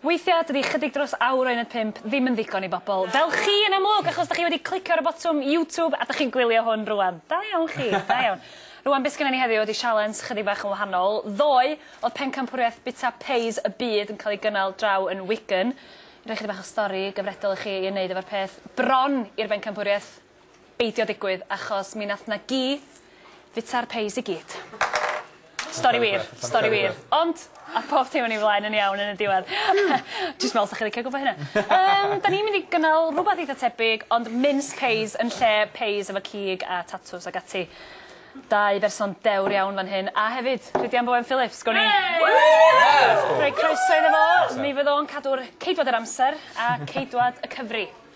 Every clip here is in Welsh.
Weithiau, dydy chydig dros awr o uned pump ddim yn ddigon i bobl fel chi yn amlwg, achos dach chi wedi clicio ar y botwm YouTube a dach chi'n gwylio hwn rŵan. Da iawn chi, da iawn. Rŵan, be' sgynnon ni heddiw ydi sialens chydig bach yn wahanol. Ddoe, o'dd pencampwriaeth Bita Pays y Byd yn cael ei gynnal draw yn Wigan. Rhoi chydig bach o stori gyfredol i chi i ymwneud efo'r peth. Bron i'r bencampwriaeth. beidio digwydd achos mi nath 'na gi fita'r peis i gyd. Stori wir. Stori wir. Ond ath pob dim yn ei flaen yn iawn yn y diwedd. Jyst me'wl 'sach chi licio gwbo hynna. Yym 'dan ni mynd i gynnal rwbath eitha tebyg ond mince pies yn lle pies efo cig a tatws ag ati. Dau berson dewr iawn fan hyn a hefyd Rhydian Bowen Phillips gown ni... Yay! Rhoi croeso iddo fo. Mi fydd o'n cadw'r ceidwad yr amser a ceidwad y cyfri.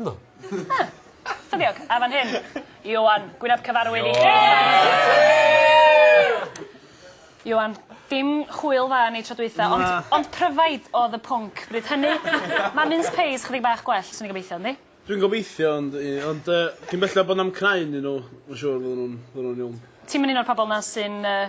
Na. Na. Ffyniog. A fan hyn. Ioan, gwyn ab cyfarwydd i... Ioan, dim chwyl dda yn ei tro dwytha ond... Na. ...ond pryfaid odd y pwnc bryd hynny. Ma' mince pies chydig bach gwell swn i'n gobeithio yndi? Dwi'n gobeithio ond i- ond yy cyn belled bo' 'na'm cnau ynnyn nw ma' siŵr fydden nw'n fydden nw'n iawn. Ti'm yn un o'r pobol 'na sy'n yy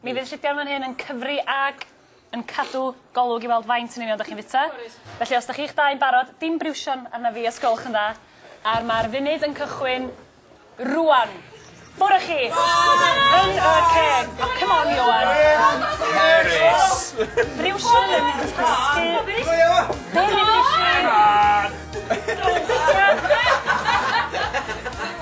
Mi fydd Rhydian fan hyn yn cyfri ag yn cadw golwg i weld faint yn union dych chi'n fwyta. Felly os dych chi'ch dau'n barod, dim briwsion arna fi os gwelwch yn dda, a'r mae'r funud yn cychwyn rŵan. Ffwr â chi! Yn y ceg! O, come on, Ioan! Hyderus! Briwsion yn tasgu... Go Ioan! Go Ioan! Come on!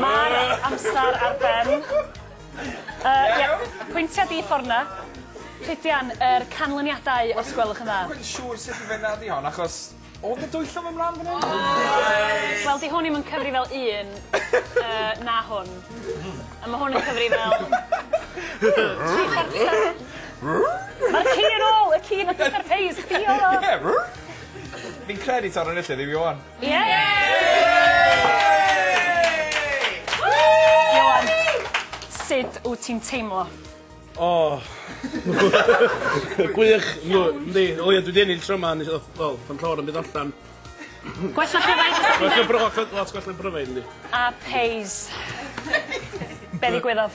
Ma'r amser ar ben. Yy ie. Pwyntia di ffor 'na. Rhydian yr canlyniadau os gwelwch yn dda. Dwi'n cweit siŵr sut i fynna di hon achos odd 'na dwyllwm yn mlan fan 'yn. Oes. Wel 'di hwn 'im yn cyfri fel un yy na hwn. A ma' hwn yn cyfri fel tri chwarter. Ma'r ci yn ôl y ci nath disgard peas chdi odd o. Ie. Fi'n credu taw 'na nw lle fi ŵan. Ioan, sud wt ti'n teimlo? O! Gwych! Yndw, yndi. O ia dwi 'di ennill tro 'ma nes- o wel pan clawr yn mynd allan. Gwella pryfaid os 'dach chi'n Gwella bry- lot lot gwell na pryfaid yndi. A Pace. Be' ddigwyddodd?